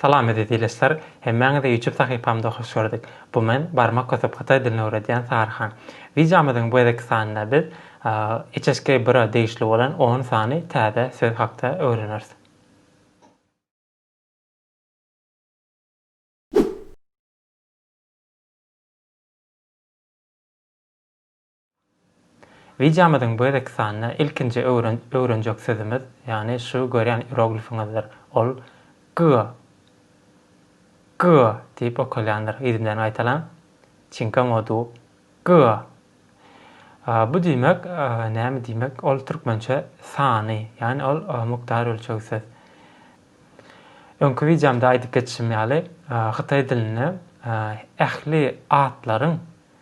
Salam eziz ilesler, hemmäňizi ýutup sahypamda hoş gördük. Bu men barmak kösüp hytaý dilini öwredýän Saryhan. Wideomyzyň bu gezekki sanynda biz HHG bira degişli bolan on sany täze söz hakda öwreneris. Wideomyzyň bu gezekki sanynda ilkinji öwrenjek sözümiz, ýagny şu görýän iroglifiňizdir. Ol Gyga, Gyga diýip okalýandyr. Yzy bilen gaýtalaň. Çinka modu, Gyga. Bu diýmek, näme diýmek? Ol türkmençe sany, ýagny ol mukdar ölçeg söz. Öňki wideomda aýdyp geçişim ýaly, hytaý dilinde ähli atlaryň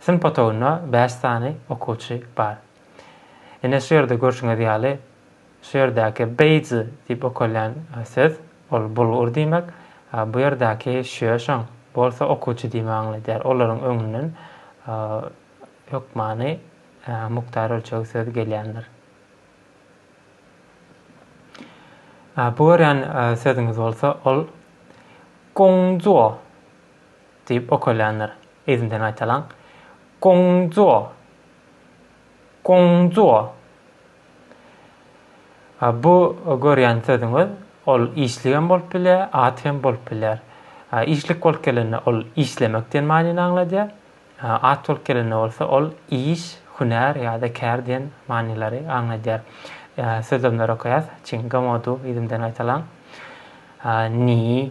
Synp otagynda bäş sany okuwçy bar. Ine, şu ýerde görşüňiz ýaly, şu ýerdäki beýji diýip okalýan söz, ol bulgur diýmek, bu ýerdäki şýoşaň bolsa okuwçy diýmegi aňladýar. Olaryň öňünden hökmany mukdar ölçeg söz gelýändir. Bu görýän sözüňiz bolsa, ol gongzuo. Diýip ökülendir. Yzyndan gaýtalaň. Gongzuo. Gongzuo. Bu görýän sözüňiz, ol işlik hem bolup bilýär, at hem bolup bilýär. Işlik bolup gelende ol işlemek diýen manyny aňladýar. At bolup gelende bolsa ol iş, hünär ýa-da kär diýen manylary aňladýar. Sözlemleri okaýas. Çinggamodu, yzymdan gaýtalaň. Ni,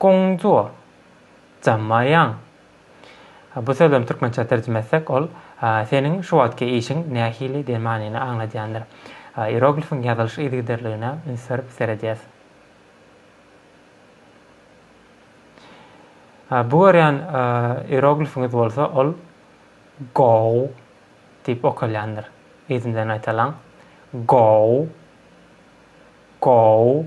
Gongzuo, Zamaýang. Bu sözlem türkmençä terjime etsek, ol Seniň şu wagtky işiň nähili diýen manyny aňladýandyr. Ieroglifiň ýazylyş yzygiderligine üns berip seredýäs. Bu görýän ieroglifiňiz bolsa, ol Gou diýip okalýandyr. Yzyndan aýtalyň. Gou. Gou.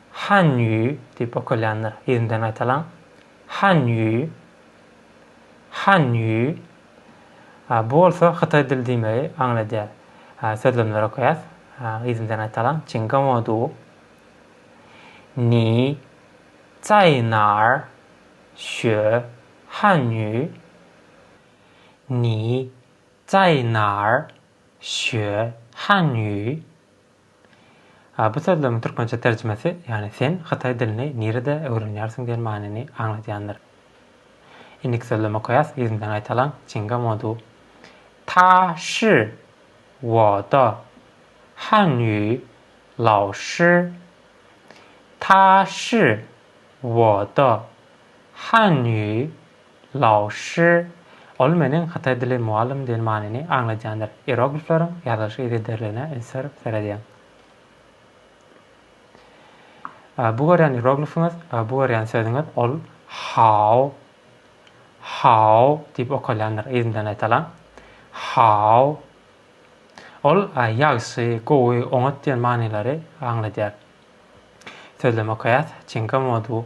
Hanýüý diýip okalýandyr. Ýerinden gaýtalaň. Hanýüý. Hanýüý. Bu bolsa hytaý dili diýmegi aňladýar. Sözlemleri okaýas. Ýerinden gaýtalaň. Çingamodu. Ni zaý nar şö hanýüý. Ni zaý nar şö hanýüý. A bu sözlügiň türkmençe terjimesi, ýagny sen hytaý dilini nirede öwrenýärsiň diýen manyny aňladýandyr. Indiki sözlem okaýas, ýüzümden gaýtalaň, Çinga Modu. Ta shi wo de han ýu lao shi. Ta shi wo de han ýu Laoshi, Ol meniň hytaý dili mugallym diýen manyny aňladýandyr. Ieroglifleriň ýazylyş yzygiderligine ünslenip seredýäň. Bu görýän ieroglifiňiz, bu görýän sözüňiz ol Hao, Hao diýip okalýandyr, yzyndan aýtalaň. Hao. Ol ýagşy, gowy, oňat diýen manylary aňladýar. Sözlem okaýas, Çinka modu.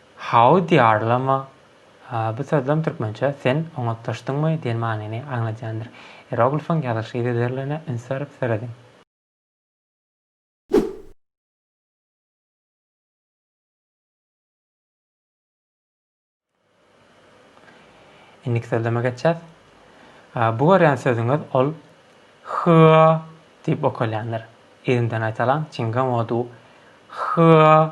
How diýarlama bu sözlem türkmençä Sen oňatlaşdyňmy? diýen manyny aňladýandyr. Ieroglifyň ýazylyş yzygiderligine üns berip serediň. Indiki sözleme geçýäs. Bu görýän sözüňiz ol Hyýa diýip okalýandyr. Yzyndan aýtalaň, Çingam odu Hyýa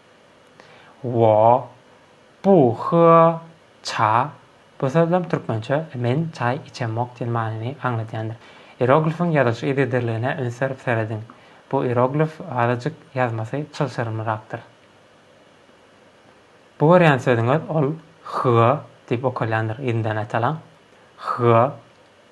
Wo, bu, hüa, ça, bu sözlem türkmençe Men çaý içemok diýen manyny aňladýandyr. Ieroglifiň ýazylyş yzygiderligine üns berip serediň. Bu ieroglif azajyk ýazmasy çylşyrymlyrakdyr. Bu görýän sözüňiz ol hüa diýip okalýandyr, ýyndanaýtalyň, hüa.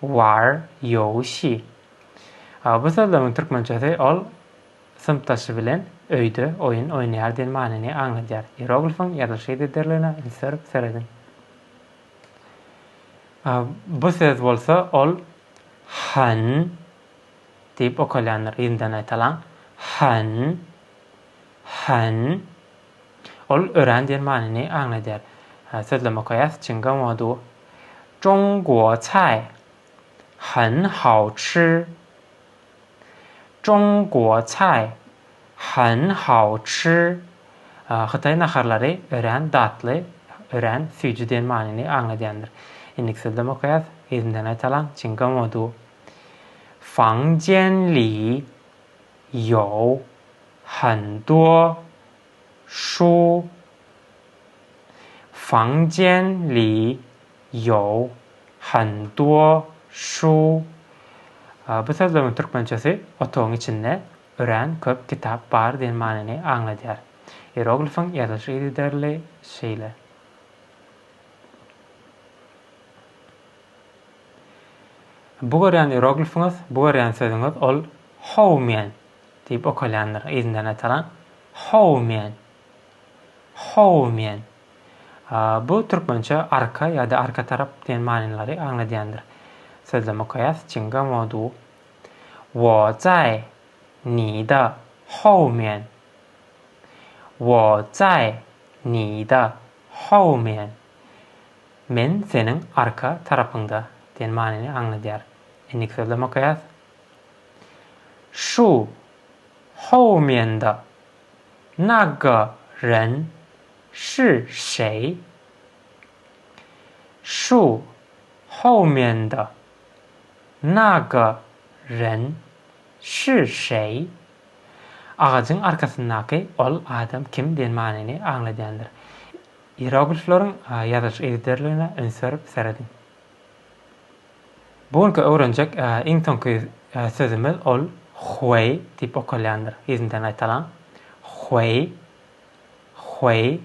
War ýow şi. A bu sözlewiň türkmençesi ol synpdaşy bilen öýde oýun oýnaýar diýen manyny aňladýar. Ieroglifiň ýazylyşy dedirligine üns berip serediň. A bu söz bolsa ol hyn diýip okalýandyr. Ýyndanaýtalaň. Hyn. Hyn. Ol örän diýen manyny aňladýar. Sözlem okaýas, Çinga mo du. Zhong guo cai. Hen hao chi. Zhong guo cai. Hen hao chi. Hytaý naharlary örän datly, örän süýji diýen manyny aňladýandyr. Indiki sözlem okaýas, yzyndan gaýtalaň, Çinga mo du. Fang jian li. Ýao Handuo, Shu Fangjian Li, Ýao Handuo, Shu. Bu sözleriň türkmençesi Otagyň içinde örän köp kitap bar diýen manyny aňladýar. Ieroglifiň ýazylyş yzygiderli şeýle. Bu görýän ieroglifiňiz, bu görýän sözüňiz ol How man diýip okalýandyr yzyndan aýtalan. How man. How man. Bu türkmençe arka ýa-da arka tarap diýen manylary aňladýandyr. Sözlem okaýas. Çinga modu. Wo zai ni da how man. Wo zai ni da how man. Men seniň arka tarapyňda diýen manyny aňladýar. Indiki sözlem okaýas. Şu, hou mianda, na ge ren, shi şeý. Şu, hou mianda, na ge ren, shi şeý. Agajyň arkasyndaky ol adam kim diýen manyny aňladýandyr. Iyeroglifleriň ýazylyş yzderligine üns berip serediň. Bu günki öwrenjek iň soňky sözümiz ol Hueý diýip okalýandyr. Yzyndan gaýtalaň. Hueý. Hueý.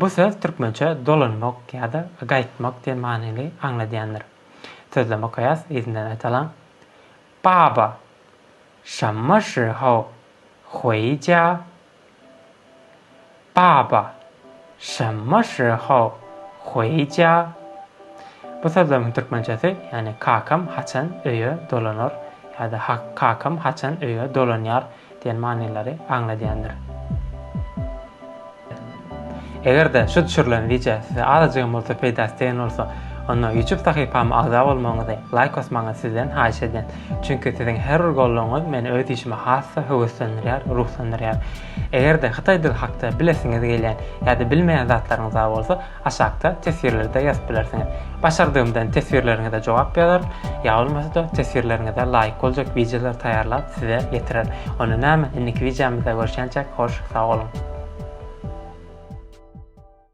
Bu söz türkmençe dolanmak ýa-da gaýtmak diýen manyny aňladýandyr. Sözlem okaýas, yzyndan gaýtalaň. Baba, şammyşy-how, hueý-ja, Baba, şemma şi hao hueýja? Bu sözlemiň türkmençesi, ýagny kakam haçan öýe dolanar ýa-da kakam haçan öýe dolanýar diýen manylary aňladýandyr. Eger-de şu düşürilen wideo size azajygam bolsa peýdasy degen bolsa, onda YouTube sahypama agza bolmagyňyzy, laýk basmagyňyzy sizden haýyş edýän. Çünki siziň her bir goldawyňyz meni öz işime has-da höweslendirýär, ruhlandyrýar. Eger-de hytaý dili hakda bilesiňiz gelýän ýa-da bilmeýän zatlaryňyz bar bolsa, aşakda teswirlerde ýazyp bilersiňiz. Başardygymdan teswirleriňize jogap ýazaryn, ýa bolmasa-da teswirleriňize laýyk boljak wideolary taýýarlap size ýetirerin. Onda näme, indiki wideomyzda görşýänçäk, hoş sag boluň!